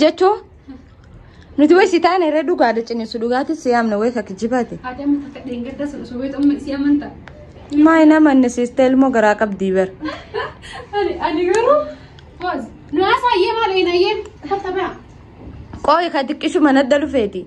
Jechoo nuti wayi si taane irra dhugaadha ciniinsu dhugaatis si yaamna wayi akka jibaate. Maa hin amanne siistee ilmoo garaa qabdii bar. Qooyi ka xiqqishu mana dhufeeti.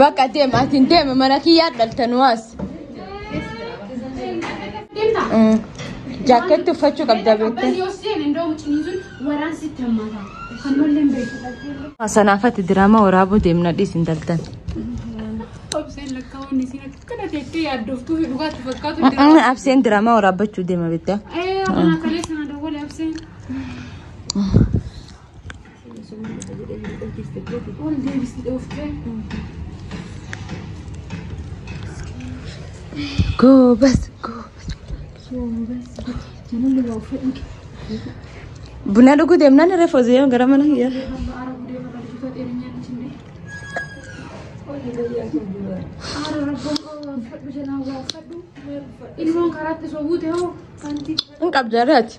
Bakka deem ati hin deeme mana kiyyaa dhalte nu as. Jaakkeetti uffachuu qabda beektee. Sanaafatti diraamaa waraabuu deemna dhiis hin daltan. Abseen diraamaa waraabbachuu deema beektee. Goobas goobas. Buna dhuguu deemnaan irra foozee gara mana kiyyaa. Ilmoon karaatti sobuu ta'uu kanti Hin qabdu irraati.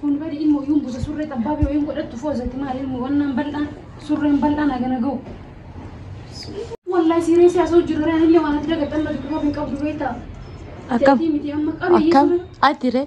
Kun bari immoo yuun busa surree xabbaa fi wayiin godhattu foozatti maali immoo wannaan bal'aan surreen bal'aan hagana ga'u. Wallahi siiree siyaasa hojii dura illee waan ati dagatamma dudduuba hin qabdu beektaa. Akkam? Akkam? Ati ree?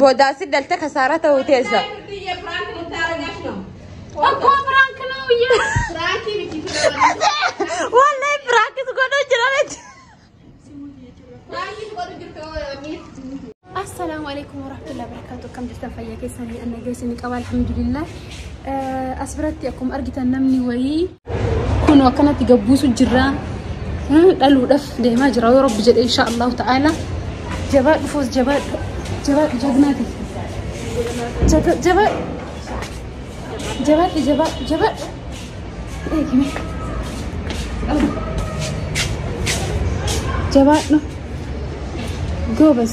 Boodaasi dalta kasaaraa ta'uu teessa. Akkoo biraank nuu biyya. Wallahi biraakis godhuu jira miti. Assalaamu alaikum warahmatullahi wabarakatuh. Akkam jirtan fayyaa keessanii anna geessanii qaba alhamdulillah. As biratti akkuma argitan namni wayii Kun akkanatti gabbuusu jirra. Dhaluudhaaf deemaa jira yoo rabbi jedhe insha Allahu ta'ala. Jabaa dhufuus jabaa jabaa jagnaati. Jabaa jabaa jabaadhu jabaa jabaa. Eegime. Jabaadhu. Goobas.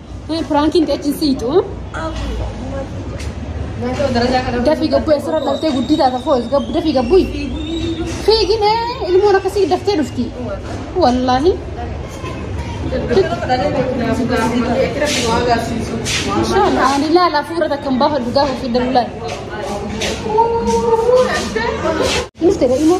Piraankiin teechiin siitu. Dafii gabbuu eessarra dhaltee guddii taata foos gabbu dafii gabbuu. Fiigin ilmoon akkasii daftee dhufti. Wallaahi. Inshallah ani laala hafuura takka hin baafadhu gaafa fidan laala. Innis ta'e immoo.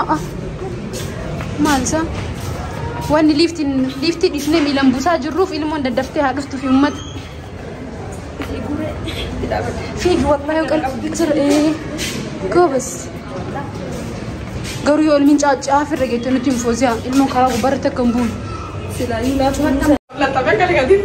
A'a. Maal isaa? Wanni liiftiin liiftii dhiifnee miilan buusaa jirruuf ilmoon daddaftee haa dhuftu fi uummata. Fiigi wallahi yoo qalbii jira ee. Goobas. Garuu yoo ilmiin caaccaa firra geettee nutti hin fooziyaa ilmoon karaa gubbaarratti akka hin buune. Silaayyuu laafuu. Lafa bakka dhigatiif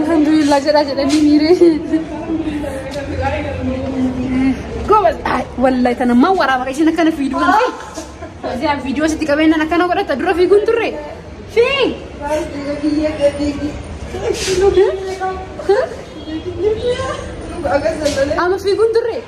Alhamdulillah jedhaa jedhanii miiree. Goobas. Wallahi tana maa waraaba ishiin akkana fiiduu kan ta'e. Yaa viidiyoo sitti qabeenyaan akkana godhata dura fiiguun turre. Fiig. Amma fiiguun turre.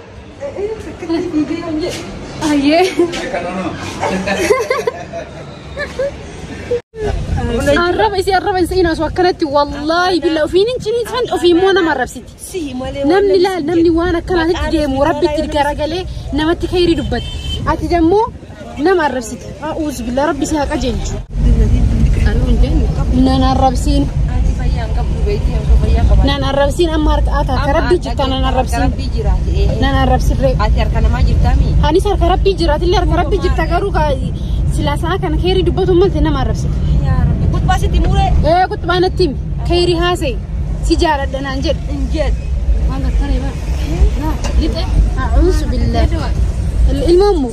Arraba isii arraba hin se'in osoo akkanatti wallaahi billa ofiin hin ciniinsan ofii immoo nama arrabsiti. Namni laal namni waan akkanaatitti deemu rabbitti garagalee namatti kayrii dubbata. Ati dammoo Nama arrabsite. A'uuzu billah rabbi si haa qajeelchu. Nan arrabsiin. Nan arrabsiin amma harka ata harka rabbii jirta nan arrabsiin. Nan arrabsiin ree. Ati harka namaa jirtaa mii? Anis harka rabbii jiraat illee harka rabbii jirta garuu kaa silaa sa'a kana keerii dubbatu malte nama arrabsite. Yaa rabbi. Kutbaa sitti muree. Ee kutbaa natti himi. Keerii haasa'e. Si jaaladha naan jedhe. Hin jedhu. Waan gartaree bara. Lixe. A'uuzu billah. Ilmoon moo?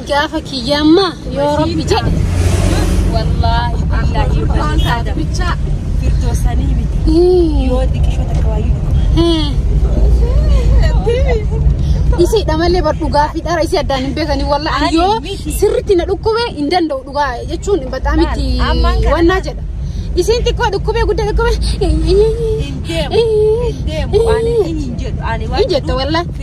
gaafa kiyyaa ammaa yoo rabbi jedhe wallaahi billaahi yoo Waan rabbi taate jedhe. bichaa girdoo sanii miti. Hii, Yoo diqishoo takka waayuu hii. Isii dhamalee bar dhugaa fi dhara isii addaan hin beekanii wallaahi Ani yoo miti. sirritti na dhukkube hin danda'u dhugaa jechuun bataa miti Maal? Ammaan kana wannaa maal? jedha. Isiin xiqqoo dhukkubee guddaa dhukkubee. hin deemu. Hin deemu. Ani hin jedhu. Ani Hin jetta wallaahi.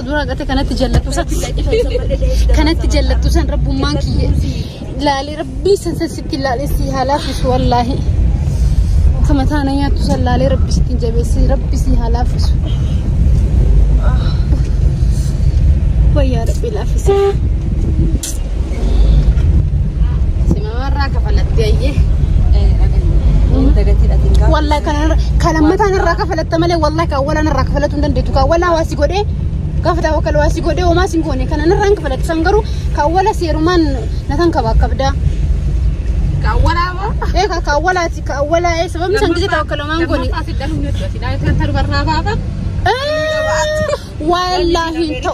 dura gate kanatti jallatu san kanatti jallatu san rabbummaan kiyya laalee rabbii san san sitti laalee si haa laafisu wallaahi akka mataa na nyaattu san laalee rabbi sitti jabeessi rabbi si haa laafisu wayyaa rabbi laafise Simamarraa kafalatti ayyee. Wallahi kana kan lammataan irraa kafalatta malee wallahi kan awwalaan irraa kafalatu hin dandeettu. Kan awwalaa waa si godhee gafataa wakal waa si godhee homaa sin goone kanan irraa hin kafalatu. San garuu kan awwala seerumaan na tan kaba akkabdaa. Kan awwalaa moo? Ee kan kan awwalaati kan awwalaa ee sababni san gisee tawakkala homaa hin goone. Lammaffaa si dhaluun ni dura. Sidaa yoo ta'e tarbarraa baafaa. Wallaahi hin ta'u.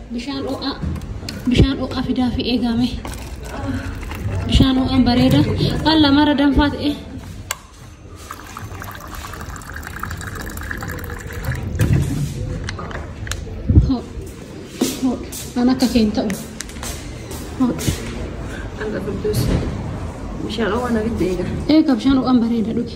Bishaan ho'aa bishaan ho'aa fidaa fi eegaa mee bishaan ho'aan bareeda waan lamarra danfaa ta'e. Waan akka keen ta'u. Alla qudus. Bishaan ho'aan abidda eega. Eegaa bishaan ho'aan bareeda dhugi.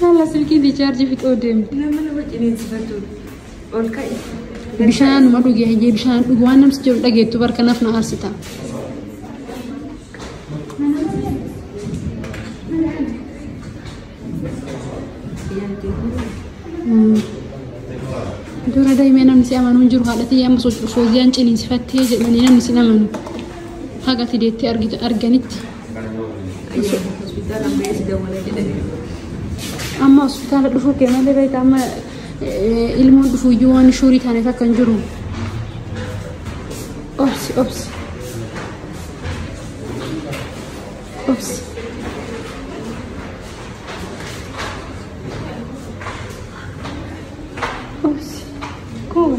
Saala silkiin riichaarjii fixoo deemte. Nama nama ciniinsifatu ol ka'i. Bishaanuma dhugi hayyee bishaan dhugi waan namsi jedhu dhageettu bar kanaaf na aarsita. Dura daa'imee namni si amanu hin jiru haadha tiyya amma socho'u fooziyaan ciniinsifattee jedhanii namni si amanu haga ati deettee argitu- arganitti. Hospitaala ammayyaa si dawwala jedhame. Amma hospitaala dhufuu kee malee beekta amma eh, ilmoon dhufuu iyyuu waan shuurii taaneef akka hin jiru. Obsi obsi. Obsi. Obsi. Koo.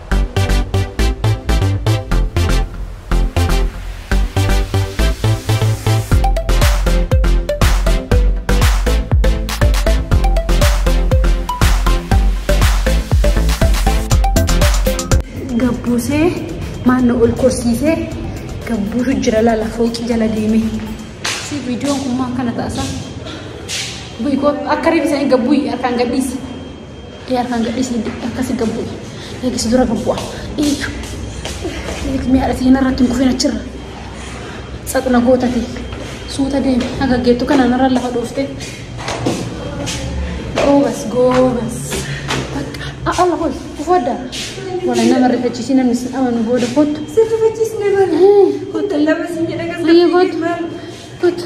gabbuusee maanna ol korsiisee gabbuutu jira laala fooqii jala deemee si viidiyoon kun maa akkana taasa bu'i koo akka reefu isaanii gabbuu harkaan gadhiisi Ee harkaan gadhiisi akkasi gad bu'i. Eegi si dura gad bu'a. Eegi. Eegi mee haadhati kana irratti hin kufin achirra. Saxna gootati. Suuta deemi. Haga geettu kanaan irra lafa dhooftee. Goobas goobas. Bakka. A'a lafa ol. Kufu adda. Wala nama rifachiisii namni sin amanu booda kottu. Sirrifachiisne malee. Kottu. Lama sin jedha kan Biyya kottu. Kottu.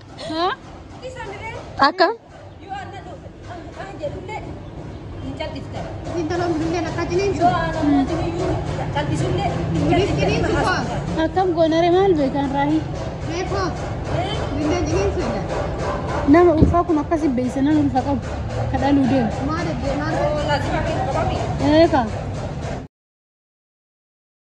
Akka? Akkam goonare maal beekan raahi? Nama ulfaa kun akkasi beeysa nama ulfa qabu kadhaluu deemu. Eegaa.